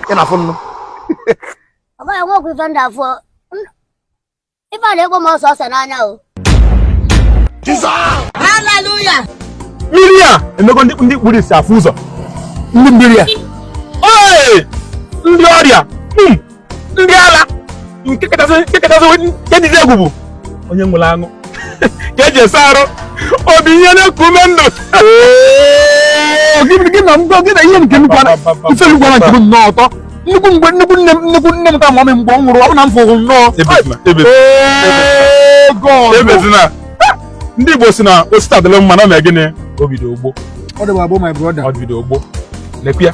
ị na-afụ nnụ ọ bụghị nwa okwu ife ndị afọ ife na-ekpo m ose ose n'anya o Hallelujah. mmiri a emego ndị ndị kpuru isi afụ ụzọ ndị mmiri a Ee! ndị ọrịa Hmm. ndị ala nke kachasị nke kachasị nke dịzi egwu bụ onye nwere aṅụ ka eji esa arụ obi ihe na-eku ume ndụ gị na ngwa gị na ihe nke nnukwu ana ife nnukwu ana nke m nnọọ ụtọ nnukwu mgbe nnukwu nne m nnukwu nne m ka mụọ m mgbe ọ nwụrụ ọ bụ na m fụrụ nnọọ ebezina ndị Igbo si na o si taa dịlị mma na ọ na-egịnị o bido gboo ọ dịwa gboo my brother o bido gboo lekwe ya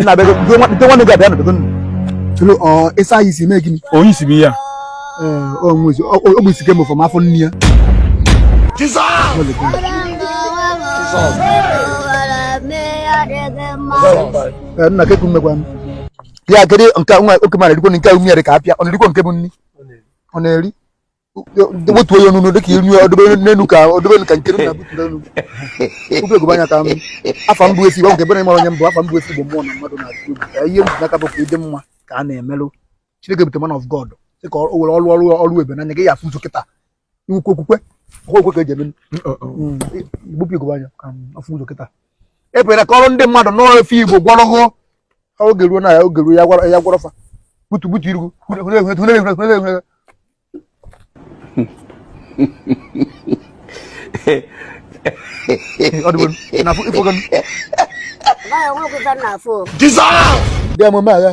nna bego ndị nwanne gị abịa na bego tụrụ ọ ịsa anyị isi mee gịnị onye isi bụ ya ọ bụ isi kemgbe from afọ nne ya nna keku mmekwa m ya kedu nke nwa oke mara erikwo nke nwunye ka apịa ọ na-erikwo nke bụ nri ọ na-eri wetuo ya n'enu dịka inu ọdụbe n'enu ka ọdụbe ka nke na butụrụ enu tupu ugogbe anya ka afa mbụ efi gbanwe ebe na ịmara onye mbụ afa mbụ efi bụ mmụọ na mmadụ na atụ ka ihe mbụ n'aka bụ ka ịdị mma ka a na-emelụ Chineke bute man of God sị ka o were ọrụ ọrụ ọrụ ebe n'anya gị ya afụ ụzọ kịta iwukwu okwukwe okwukwe ka eji eme gbupụ ugogbe anya ka a fụ ụzọ kịta ebere ka ọrụ ndị mmadụ n'ọrụ efe igbo gwọrọ hụ oge ruo na ya oge ruo ya gwọrọ ya gwọrọ fa butu butu irugu Jizọs! Bịa emume agha